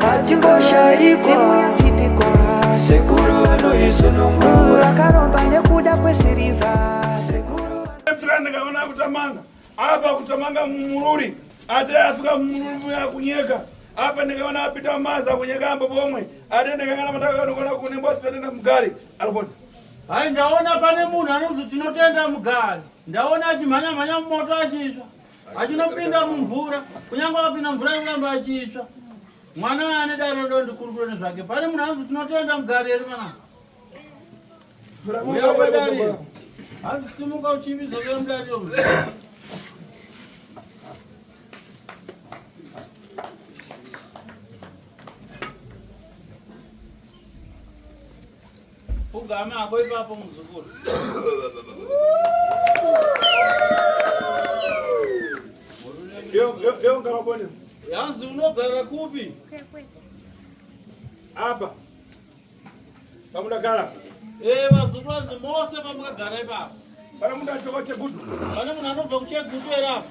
hatingoshayi dzimu yetsipiko sekuru vanoizunungura akaromba nekuda kwesirivha sekuru ndikaona kutamanga apa kutamanga mumururi ate asuka mumururi muya kunyeka apa ndikaona apita maza kunyeka ambo pomwe ate ndikangana matakakanokona kunembwa tinotenda mugari aripota hayi ndaona pane munhu anonzi tinotenda mugari ndaona achimhanya mhanya mumoto achisva achinopinda mumvura kunyange akapinda mvura inoramba achitsva mwana ane dare do ndikurukure nezvake pane munhu anonzi tinotenda mugari eri mwana uya kwedariro hanzi simuka uchiviza kuya mudariro Ugame hako ipapo muzukuru. Leo ngava bone. Yanzi unogara kupi? Apa. Pamudagara. Eh, vazukuru anzi mose pamukagara ipapo. Pana munhu achoka chegutu. Pana munhu anobva kuchegutu era apa.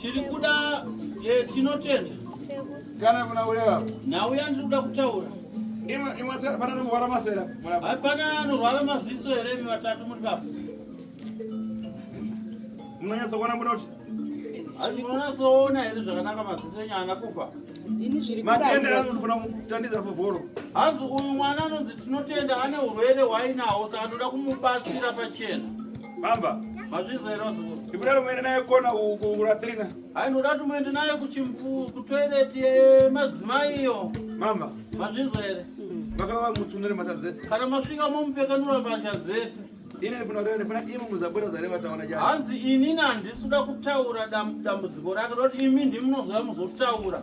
Tiri kuda eh, tinotenda. Kana kuna ulewa. Na uya ndiri kuda kutaura. Ima ima tsara pana nomwara masera. Hapana norwara maziso here mi vatatu muri baba. Munonyatsa kuona muda kuti Handi munatsoona here zvakanaka maziso enyu haana kufa. Ini zviri kuda. Matenda anofana kutandidza favoro. Hanzi uyu mwana anonzi tinotenda ane urwere hwainawo saka toda kumubatsira pachena. Bamba. Mazvizo here wazukuru? Ndikuda kumuenda naye kona kukura Trina. Hai ndoda tumuende naye kuchimpu kutoilet yemadzimai eh, iyo. Mama. Mazvizo here? Vakava mutsunere mata dzese. Kana masvika momupfekanura mbatya dzese. Ini ndifuna kuti ndifuna imi muzabura zare vataona jana. Hanzi ini nandisuda kutaura dambudziko rake roti imi ndimunozouya muzotaura.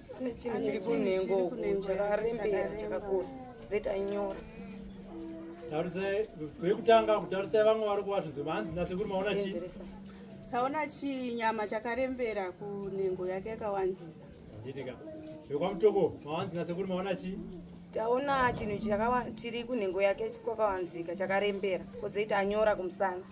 pane chinhu chiri kunhengo chakarembera chakakura zeta nyora tarisai vekutanga kutarisai vamwe vari kuvasvinzwa vanzi nasekuru maona chii taona chinyama chakarembera kunhengo yake yakawanzika nditika vekwamutoko mawanzi nasekuru maona chii taona chinhu chiri kunhengo yake kwakawanzika chakarembera kozoita anyora kumusana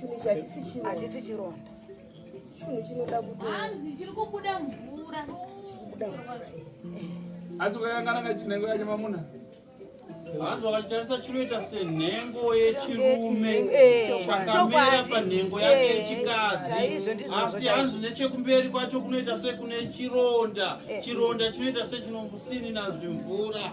Chunhu ichi hachisi chironda. Hachisi chironda. Chunhu chinoda kuti hanzi chiri kubuda mvura. Chiri kubuda mvura. Asi kwakangana kachinhengo yacho mamuna. Vanhu vakatarisa chinoita senhengo yechirume eh, chakamera panhengo yake eh, yechikadzi asi hanzi nechekumberi kwacho kunoita sekune chironda eh. chironda chinoita sechinomusininazvimvura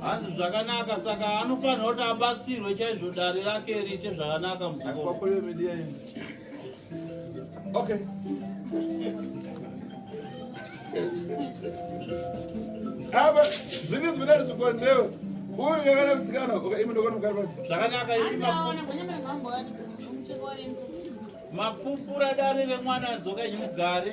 hanzi zvakanaka saka anofanira kuti abatsirwe chaizvo dare rake riite zvakanaka Okay. Aba, zini zvinari zvikonzero. Uri yakana mtsikana, okay, imi ndokona mukari basi. Zvakanaka imi mapupu. Mapupura dare remwana adzoka nyimugare.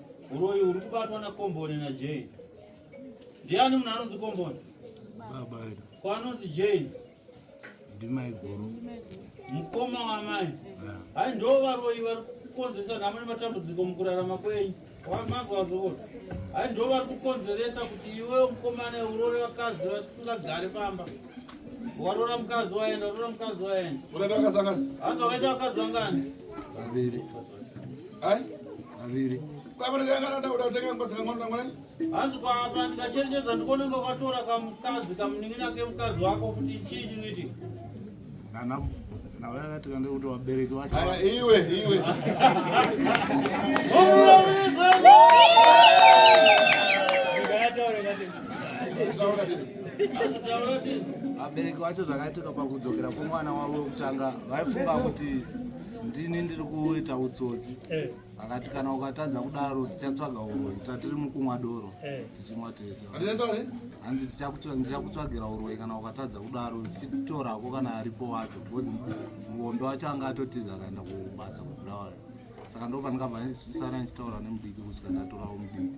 Uroyi uri kubatwa na Komboni na Jay. Ndiani munhu anonzi Komboni? Baba edu. Ko anonzi Jay? Ndimai guru. Mukoma wamai. Hai ndo varoyi vari kukonzeresa nhamo nematambudziko mukurarama kwenyu. Wamazwa wazokona. Hai ndo vari kukonzeresa kuti iwe mukomana urore vakadzi vasingagare pamba. Warora mukadzi waenda, warora mukadzi waenda. Unaita vakadzi angani? Hanzi wakaita vakadzi angani? Vaviri. aviri hanzi kwaapa ndikacherechedza ndikone ngokatora kamukadzi kamunin'ina kemukadzi wako kuti chii chinoitika navayakatikande kuti vabereki vacho iwe iwe vabereki vacho zvakaitika pakudzokera kwemwana wavo wekutanga vaifunga kuti ndini ndiri kuita utsotsi eh. akati kana ukatadza kudaro tichatsvaga uroi tatiri mukumwa doro eh. tichimwa tese hanzi ndichakutsvagira uroi kana ukatadza kudaro tichitorako kana aripo wacho bcause muombe wacho anga atotiza akaenda kubasa kubulawayo saka ndo pandikabva ndisara ndichitaura nemudiki kusvika ndatorawo mudiki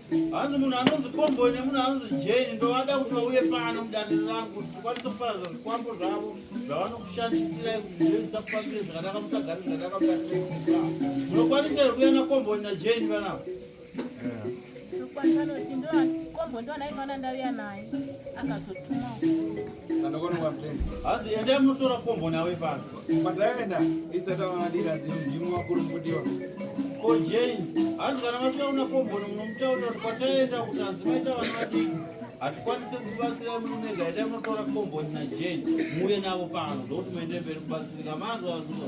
hanzi munhu anonzi komboi nemunhu anonzi jeni ndovada kuti vauye pano mudaniro rangu tikwanise kuparadza zvikwambo zvavo zvavanokushandisirai kuti zvoisa kufambire zvakanaka musagari zvakanaka mukatia munokwanisa here kuya nakomboi najeni vanavo kombo ndovanaifana ndauya naye akazotumawo hanzi endai munotora kombo nawe pano kwataenda isatavamadira ndimwe vakuru mukutiwa ko jane hanzi kana vasvika kuna kombo munomutaurira kuti kwataenda kuti hanzi maita vana vadiki hatikwanise kubatsira munega ita munotora kombo na jane muuye navo pano ndokuti muende mberi kubatsirika manzwa vasuka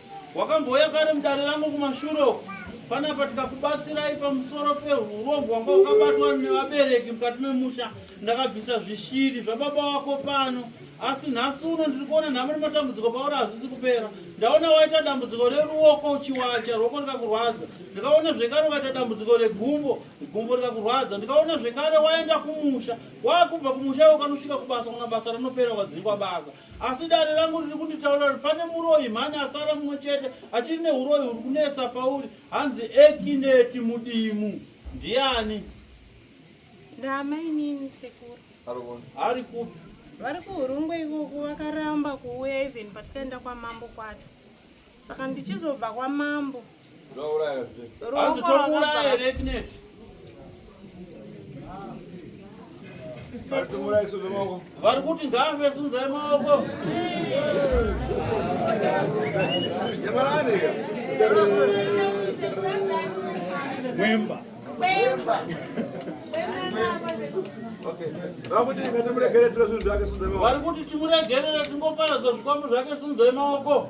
Wakambouya kare mudare rangu kumashure uku panapa tikakubatsirai pamusoro peurombwa wanga wakabatwa nevabereki mukati memusha ndakabvisa zvishiri zvababa wako pano asi nhasi uno ndiri kuona nhamo nematambudziko pauri hazvisi kupera ndaona waita dambudziko reruoko uchiwacha ruoko rikakurwadza ndikaona zvekare ukaita dambudziko regumbo gumbo rikakurwadza ndikaona zvekare waenda kumusha wakubva kumusha iwe ukanosvika kubasa kuna basa rinopera ukadzingwa basa asi dare rangu riri kunditaura kuti pane muroyi mhani asara mumwe chete achiri neuroyi huri kunetsa pauri hanzi ekineti mudimu ndiani ndaamainini sekuru ari kupi vari kuhurungwe ikoko vakaramba kuuya even patikaenda kwamambo kwacho saka ndichizobva kwamambo vari kuti ngave sunzai maoko kwemba kwemba vari kuti timuregerere tingoparadza zvikwambo zvake sunzai maoko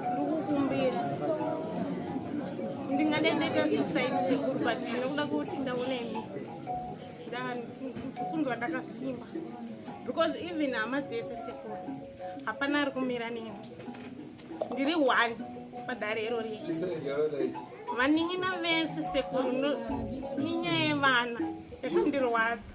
ndikukumbira ndingade ndaita suicide sekuru but ndinokuda kuti ndaona imi kunzwa ndakasimba because even hama dzese sekuru hapana ari kumira neni ndiri one padare iro rie vanin'ina vese sekuru inyaya yevana yakandirwadza